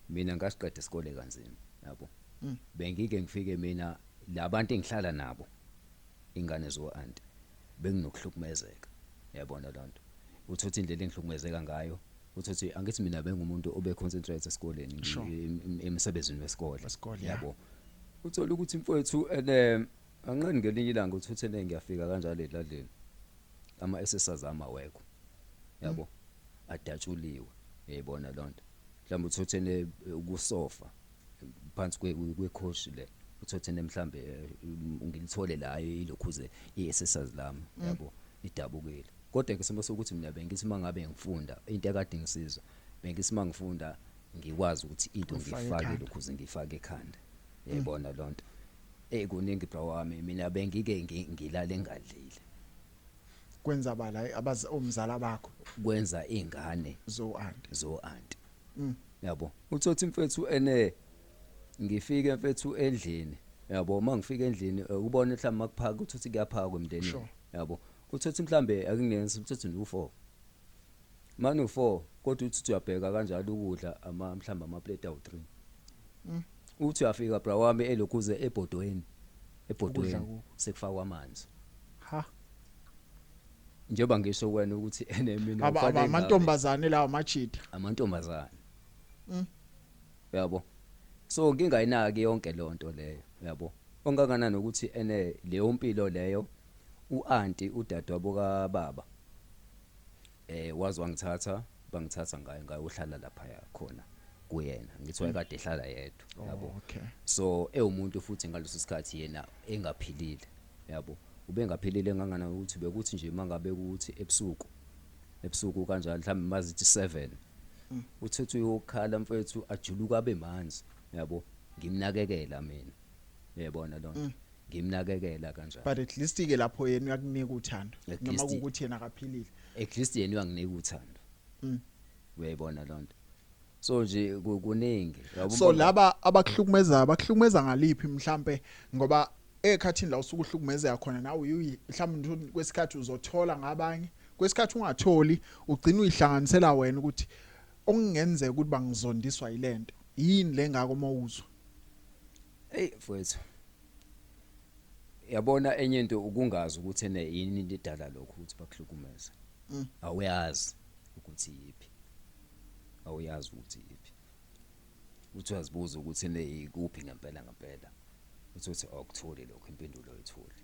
Mina ngasiqeda isikole kanzima yabo. Bengike ngifike mina labantu engihlala nabo ingane zo aunt benginokuhlukumezeka. Yabona lonto. Uthi uthi indlela engihlukumezeka ngayo uthi uthi angithi mina bengumuntu obe concentrate esikoleni Sure. ngi- em- em- emsebenzini wesikole. Wesikole, yeah. Yabo. Uthola ukuthi mfowethu ene Anqeni ngelinye ilanga uthi uthene ngiyafika kanjalo edladleni. Ama SSRs ama awekho. Yabo? Adatshuliwe. Uyayibona lonto. Mhlawumbe uthi uthene eh, kusofa phansi kwe kwekhoshi le. Uthi uthene mhlawumbe eh, ngilithole la eh, ilokhuze iSSRs lami. Yabo? Idabukile. Kodwa ke simo sokuthi mina bengithi mangabe ngifunda into ekade ngisiza. Bengithi mangifunda ngikwazi ukuthi into Uyifake ngiyifake ekhanda. lokhuze ngiyifake ekhanda. Uyayibona lonto. Eyi kuningi bro wami mina bengike ngilale ngadlile. Kwenza bala abaz omzala bakho. Kwenza ingane. Zo aunty. Zo aunty. Mm. Yabo. Uthothi mfethu ene ngifike mfethu endlini. Yabo uma ngifika endlini eh, ubone mhlawumbe makuphaka uthothi kuyaphakwa emndenini. Sure. Yabo. Uthothi mhlambe akungenzi uthothi ndu 4. Manu four kodwa uthi uthi uyabheka kanjalo ukudla ama mhlawumbe amaplate awu three. Mm. Uthi uyafika bra wami elokhuze ebhodweni. Ebhodweni Ukudla ku- sekufakwa amanzi. Ha. Njengoba ngisho wena ukuthi ene mina Aba ufanele aba ngabe- amantombazane lawa machitha. amantombazane. Mm. Yabo. So ngingayinaki yonke lonto leyo, yabo. Ongakanani ukuthi ene leyo mpilo leyo uanti udadewabo kababa eh wazi wangithatha bangithatha ngaye ngayohlala lapha yakhona kuyena ngithi wayekade ehlala yedwa Oh, yabo okay. so ewumuntu futhi ngaleso sikhathi yena engaphilile yabo ubengaphilile ngangana ukuthi bekuthi nje mangabe ukuthi ebusuku ebusuku kanjalo mhlawumbe mazithi 7 uthethu uyokhala mfethu ajuluka abe manzi yabo ngimnakekela mina uyabona lona ngimnakekela kanjani but at least ke lapho yena uyakunika uthando At noma least- kukuthi yena akaphilile at least yena uyanginika uthando Mm. uyayibona loo nto so nje ku- kuningi Yabo, so mbona- laba abakuhlukumezayo bakuhlukumeza ngaliphi mhlampe ngoba ekhathini la usuke uhlukumezeka khona nawe uyi- mhlawumbe nje uthi kwesikhathi uzothola ngabanye kwesikhathi ungatholi ugcina uyihlanganisela wena ukuthi okungenzeka ukuthi bangizondiswa yilento yini lengako mawuzwa Hey mfowethu. Yabona enye into ukungazi ukuthi ene yini into edala lokho ukuthi bakuhlukumeza. Mm. Awuyazi ukuthi yipi. Awuyazi ukuthi yipi. Uthi uyazibuza ukuthi ene yikuphi ngempela ngempela. Uthi uthi awukutholi lokho impendulo oyitholi.